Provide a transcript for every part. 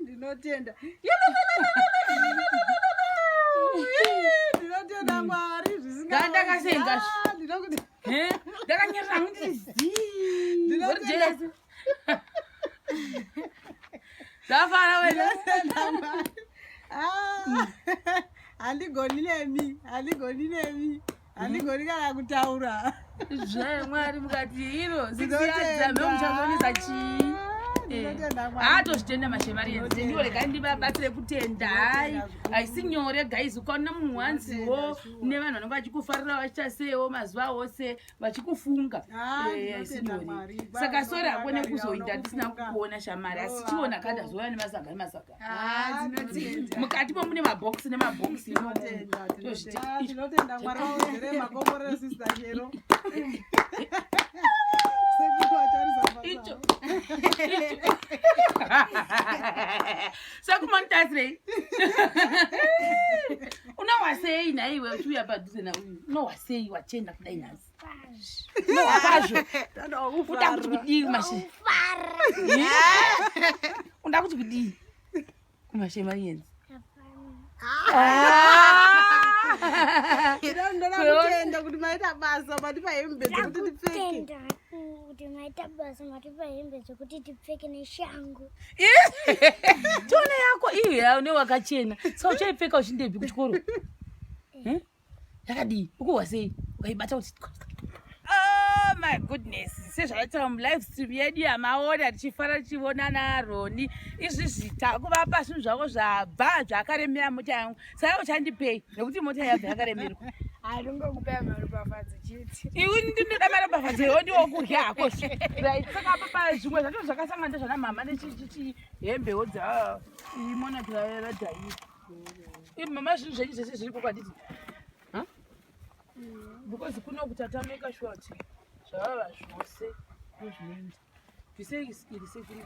ndinotenda ndinotenda mwari zvisingaandakasenga ndakanyarira kuti zii zvafara wena ah, handigoni nemi handigoni nemi handigoni kana kutaura zvamwari mukati iro zikiyadzameuchazonisa chii haatozvitenda mashemariyezi ndiwo regai ndibabatsire kutenda hai haisi nyore guys ukaona munhu wanziwo nevanhu vanenge vachikufarira vachiita sewo mazuva ose vachikufunga ah, eh, saka ah, sori hako nekuzoita tisina kukuona shamari asi chiona ka ndazouya nemasaga nemasaga ah, mukati mo mune mabhokisi nemabhokisi sekumonitasirei unohwa sei nhaiwe uchiuya padhuze nauyu unohwa sei wachenda kudai nhasi unohwa kwazvo uda kuti kudii kumashe uda kuti kudii kumashe manyenzi ndoda kuti maita basa matipa hembe dzekuti tipfeke kuti maita basa matipa hembe dzekuti tipfeke neshangu tone yako iyo une wakachena sa uchaipfeka uchindepi kuchikoro hm? yakadii ukuhwa sei ukaibata kuti oh my goodness sezvataura mulive stream yedu yamaona tichifara tichivona naaroni izvi zvita kuvapa zvinhu zvavo zvabva zvakaremera mota yangu Saka uchandipei nekuti mota yabva yakaremerwa. Haringokupea maropafadzo chete. Iwe ndinoda maropafadzo iwe ndiwo kurya hako. Right. Saka apa pa zvimwe zvacho zvakasangana ndezvana mama nechichichi hembe wodza ah, imona kuyavera dai. Ibu mama zvinhu zvenyu zvese zviri kokwa didi. Huh? Mm. Because kuno kutatameka short. Zvava zvose. Ndozvinoita. Ndisei iri sekuru.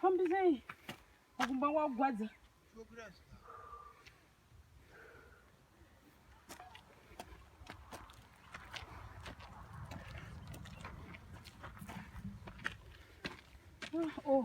Fambisei kumba kwakugwadza. Oh.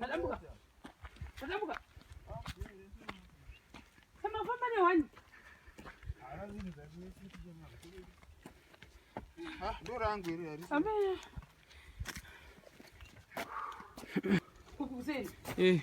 Tadambuka. Tadambuka. Kama kwa mane wani. Ah, ndo rangu hili ya risa. Amen. Kukuseni. Eh.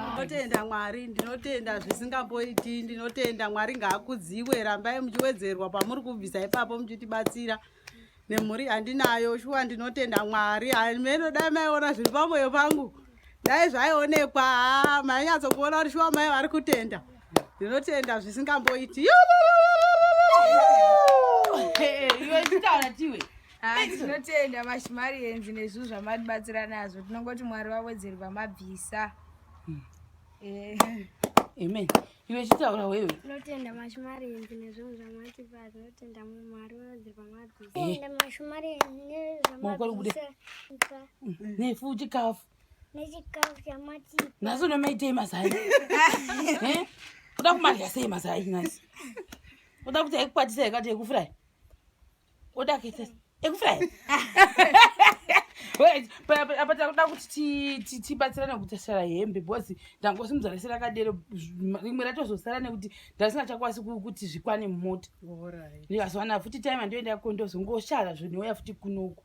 ndinotenda mwari ndinotenda zvisingamboiti ndinotenda mwari ngaakudziwe rambai muchiwedzerwa pamuri kubvisa ipapo muchitibatsira nemhuri yandinayo shuwa ndinotenda mwari hameno dai maiona zviri pamoyo pangu dai zvaionekwa haa mainyatsokuona kuti shuwa mai vari kutenda ndinotenda zvisingamboiti tinotenda mashimari enzi nezvinhu zvamatibatsira nazvo tinongoti mwari vawedzerwa mabvisa hmm. eh. amen iwe chitaura wewe tinotenda mashumarenzi nezvinhu zvamatipa tinotenda mwari wadzirwa mwadzisaenda eh. mashumarenzi nezvamanefu mm. chikafu nechikafu chamatipa nhasi unomaitei mazai eh? uda kumadya sei mazai nhasi uda kuti aikukwatisai kati yekufurayi oda kuita ekufly apa takuda kuti tibatsirane kutasara hembe because ndangosimudza rese rakadero rimwe ratozosara nekuti ndasina chakwasi kuti zvikwane mumota ndikazowana futi time andoenda kondozongoshara zvonouya futi kunoku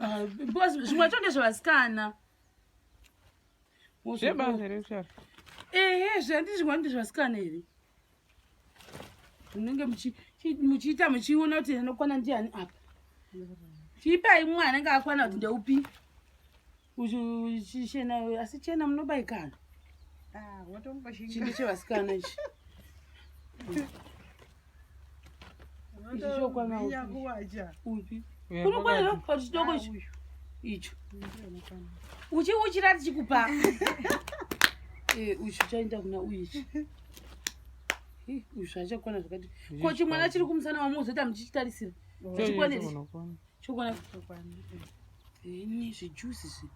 Ah, because zvimwe chonde zvevasikana zvebanze rekushara ehe zvandizvimwe ndi zvevasikana here munenge muchiita muchiona kuti anokwana ndiani apa chiipai mumwe anenge akwana kuti ndeupi chichena asi chena munobaikana ah, chimbi chevasikana ichi unokwanira kupa chidoko icho icho uchi uchira tichikupa uyu chaenda kuna uyu ichi uyu zvaachakwana zvakati ko chimwana chiri kumusana wamozoita muchichitarisira oh. chikwanei Chokwana chokwana. Ini zvijuice izvi.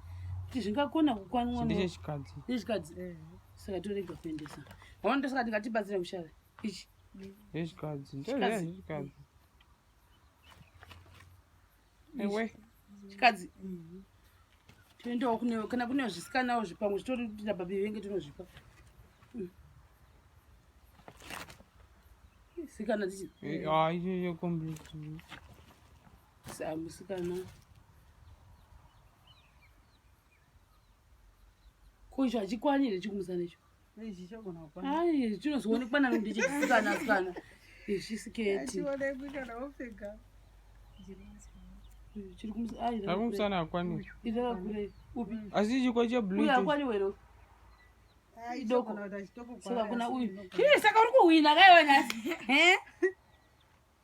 Kuti zvingakona kukwanwa ndicho chikadzi. Ndicho chikadzi. Eh. Saka torega kuendesa. Waona ndosaka ndikatibatsira mushave. Ichi. Ndicho chikadzi. Ndicho chikadzi. Ewe. Chikadzi. Mhm. Toendawo kune kana kune zvisikanawo zvipamwe zvitori kuti nababi venge tinozvipa. sikana tichi eh, ah iyo iyo complete samu sikana ko icho achikwanire chikumusa necho ai chinozoonekwa nani kuti chisikana sikana izvi siketi chirikumusana akwanire asi chikwa cheblue akwanire idokosakuna uyu chii saka uri kuhwina kaiwa nhasi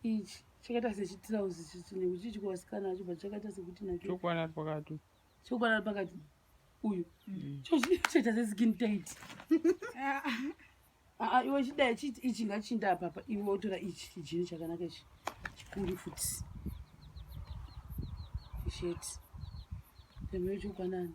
ichi chakaita sechitirauzi chinechichi kuvasikana acho but chakaita sekuti nachokwana ari pakati chokwana ari pakati uyu mm. chochiita seskin tit ah, ah, ah, iwe chidai chiti ichi ngachinda apapa iwe wotora ichi chijini chakanaka ichi chikuri futi sheti pembe chokwanani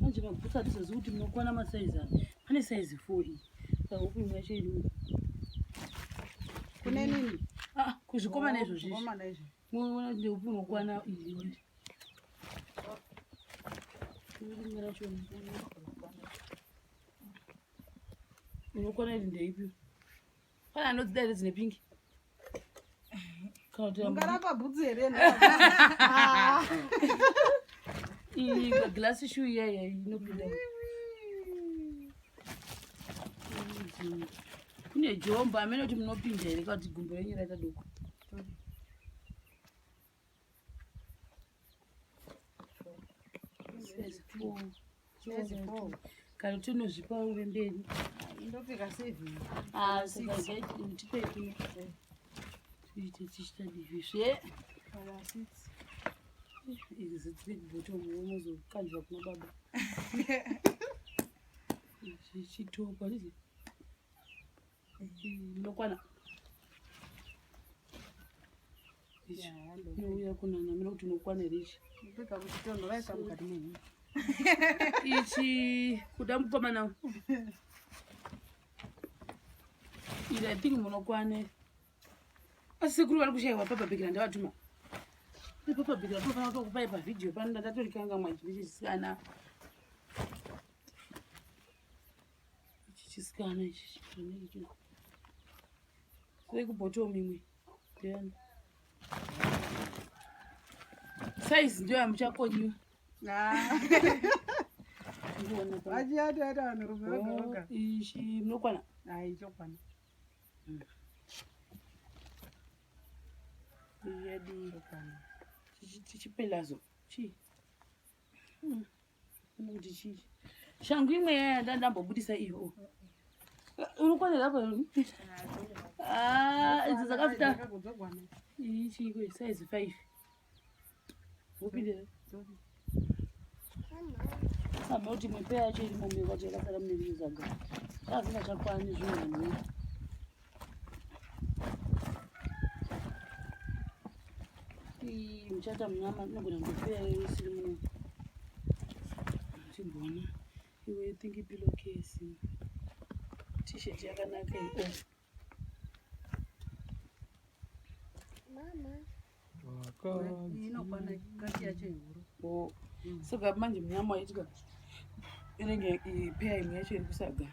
manje mabhutsu hatizozivi kuti munokwana masaizi aya pane saizi four iyi sahuku imwe yacho iri kune nini ah, kuzvikomana izvozvi munoona kuti ndeupi unokwana iyondi rimwe racho unokwana iri ndeipi Kana anodzida here dzine pingi? Ungarapa bhutsu here? Iyi glass shoe iya iya inopinda. Kune jombo amene kuti munopinda here kuti gumbo renyu raita doko. kana kuti unozvipa uve mberi ndopfeka sevhini asi ndipeki tiite tichita divi zve izi dziri bottom unozokanjwa kuna baba zvichitokwa ndokwana uya kunana mira kuti unokwana here ichi ichi kuda mukomana iri i think munokwane asi sekuru vari kushaiwa papabhikira ndavatuma papabhikira tofanira tokupai pavhidhiyo pano ndatorikanga mwajivichisikana ichi chisikana ichi chineiki kuri kubhotom imwe ndeyani saizi ndiyo yamuchakonyiwa vachiyataita vanhurume vagaoga ichi munokwana ai chokwana yadii chokwana chichipelazo chii shangu imwe yaya ndandambobudisa iyo uri kwanera pa ah, idzo dzakafita ichiiko size five wopindira samba kuti mwepe yacho iri momwe kwacho yakasara mune zvinhu zvaga azina chakwani zvinhu muchata munyama inogona kutopera isiri muno chigona iwe think pillow case t-shirt yakanaka iyo oh. mama saka manje munyama waitika inenge ipeya imwe yacho iri kusaga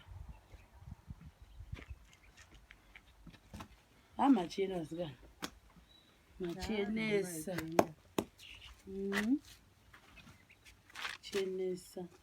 ha machena zika machenesa chenesa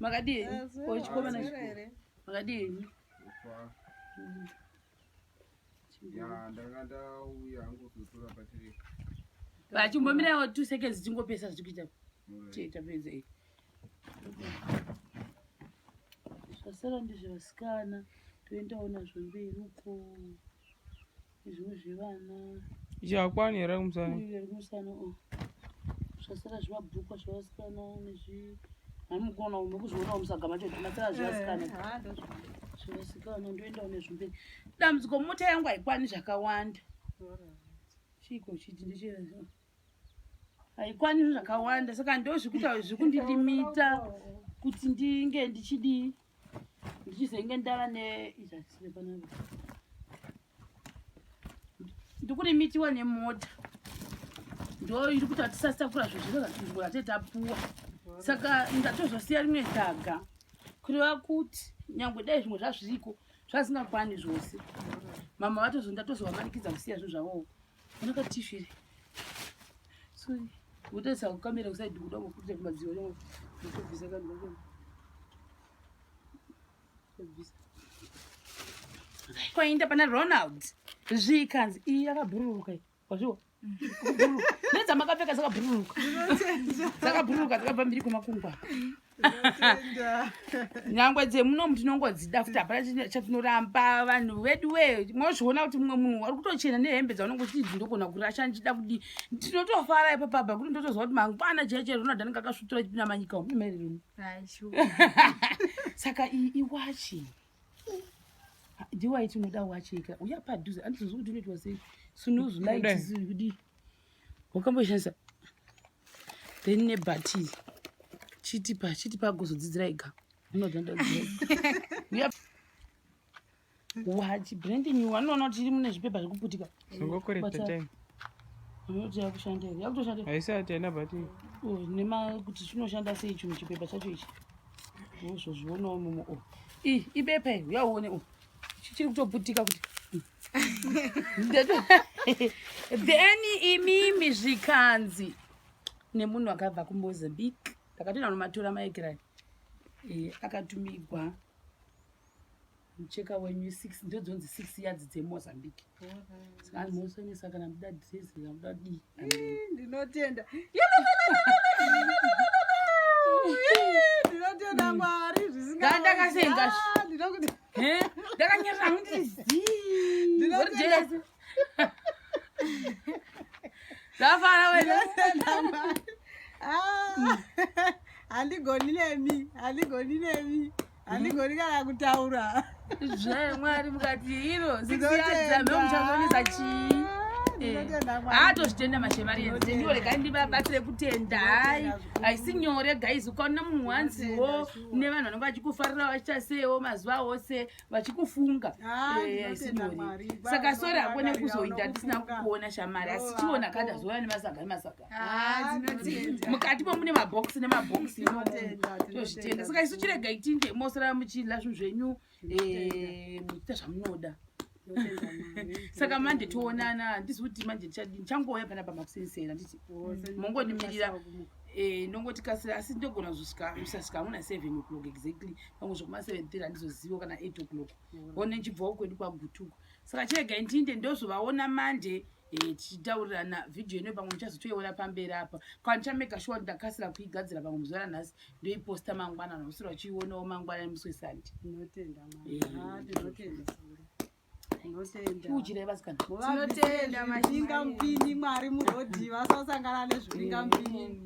makadii ochikomana makadii vachimbomirawo two seconds tingopesa zvitikuita tiita pedza i zvasara ndizvevasikana toendawo nazvo mberi uko Izvi zvivana. Zvakwani here kumusana? Izvi kumusana. Oh. Zvasara zvimabhuku zvavasikana nezvi. Hami kuona umwe kuzviona umusagama chete. Masara zvavasikana. Eh, ah, zvavasikana ndoenda une zvimbe. Dambudziko mota yangu haikwani zvakawanda. Chiko chiti ndichira. Haikwani zvakawanda saka ndozvikuita zvikundilimita kuti ndinge ndichidii. ndichizenge ndava neizvasirepanaa ndikuri mitiwa nemota ndo iri kuti hatisasakura zvezviro zvatinzwa tate tapuwa saka ndatozosiya rimwe dhaga kureva kuti nyangwe dai zvimwe zvazviriko zvazingakwani zvose mama vatozondatozovamanikidza kusiya zvinhu zvavoo kwainda pana ronald zvikanzi iyi yakabhururuka wazviwa nedzamakapeeka dzakabhururuka dzakabhururuka dzakabva mbiri kwemakungwa nyangwe dzemunomu tinongodzida futi hapana chatinoramba vanhu vedu we mozviona kuti mumwe munhu wari kutochena nehembe dzaunenge uchiti ndogona kurasha ndichida kudi tinotofara ipa pabha kuti ndotoziva kuti mangwana chaiye chaiye ronald anenge akasvutura chipinda manyika omumerereni saka iyi iwachi ndiwaiti unoda wachi ika uya padhuze andizozi kuti unoitwa sei sunuzu laiti zii kudii wakamboshandisa then nebati chitipa chitipa agozodzidzira ega wachi branding wanoona kuti iri mune zvipepa zvekuputika unoti yakushanda here yakutoshanda haisati haina bati oh, nema kuti chinoshanda sei chinhu chipepa chacho ichi wozozvionawo mumo o oh. i ibepa iri uyauone o oh. chichiri kutoputika kuti then imimi zvikanzi nemunhu akabva kumozambique ndakatoenda nomatora maekirani eh, akatumigwa mucheka wenyu six ndo dzonzi six yadzi dzemozambique saka mosonesa kana muda dress kana muda dii ndinotenda ndinotenda mwari zvisingaandakasenga ndakanyerera hangu ndiri zii ndafara wena ah, handigoni nemi handigoni nemi handigoni kana kutaura zvemwari mukati iro zisiyazamemuchazonisa chii atozvitenda mashemarienzi ndiwo regai ndibabatsire kutenda hayi haisi nyore guys ukaona munhu wanziwo nevanhu vanenge vachikufarira vachichasewo mazuva ose vachikufunga ah, eh, saka sori hako nekuzoita tisina kukuona shamari asi chiona kada zouya nemasaga nemasaga ah, mukati mo mune mabhokisi nemabhokisi tozvitenda saka isu chirega itinge mosara muchidla zvinhu zvenyu eh, muita zvamunoda saka manje toonana handizi kuti manje ndichangouya pana pamakusensera nditi mongonimirira eh, ndongoti kasira asi ndogona kusasvika hamuna seven o'clock exactly pango zvekuma seven thirty handizoziva kana eight o'clock one nchibvawo kwedu kwagutuko saka chega ndinde ndozovaona manje mm. Eh, tichitaurirana vhidhiyo ino pamwe ndichazotoiona pamberi apa kana ndichamega shuwa ndakasira kuigadzira pamwe muzuva ranhasi ndoiposta mangwana nausiro achiionawo mangwana musi wesandi kuuchirevasikanatinotendainga mupini mwari murodhi vasasangana nezvipinga mupini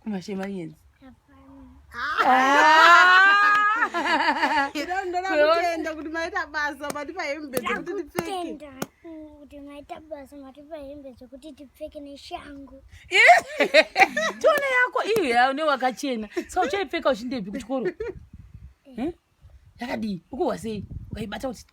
Kumashema yenzi. Ndakutenda kuti maita basa matipa hembe dzekuti tipfeke. Kuti maita basa matipa hembe dzekuti tipfeke neshangu. Tone yako iyo yaune wakachena. Saka uchaipfeka uchindepi kuchikoro? Eh? yakadii ukuhwa sei ukaibata kuti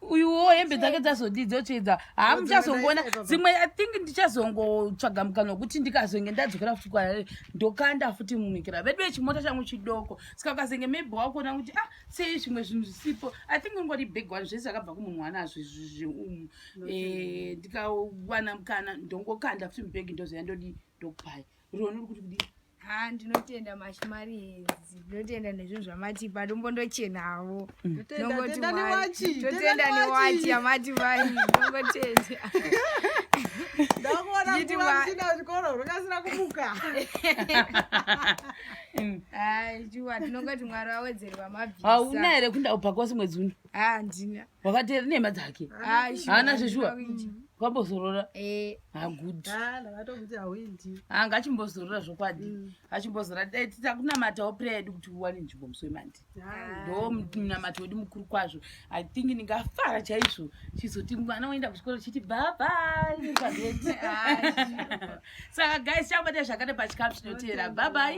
uyuwo hembe dzake dzazodii dzotsvedza haa muchazongoona dzimwe i think ndichazongotsvaga mukana wekuti ndikazonge ndadzokera futi kwarare ndokanda futi mumikira vedu vechimota changu chidoko saka ukazenge maybe wakuona kuti ah sei zvimwe zvinhu zvisipo i think ungori big one zvese zvakabva kumunhu wanazvo zviumu eh, ndikawana mukana ndongokanda futi mubhegi ndozoya ndodii ndokupaya roni uri kuti kudii haa ndinotenda mashimari hedzi ndinotenda nezvinhu zvamatipa ndombondochenawo mm. totenda newachi yamati vai ndongotenda ndakuona kuvamusina zvikoro rwakasira kumuka hai juwa tinongoti mwari wawedzerwa mabvisa hauna here kunda ubva kwasi mwedzi uno handina wakati eri nhema dzake haana zveshuwa kwambozorora eh. hagudi anga achimbozorora zvokwadi mm. achimbozorora dai titakunamatawo prayer yedu kuti uwane nzvimbo musi wemandi ndo munamato wedu mukuru kwazvo i think ndingafara chaizvo chizoti mwana woenda kuchikoro chiti babai saka guys chakubata zvakane pachikapu chinoteera babai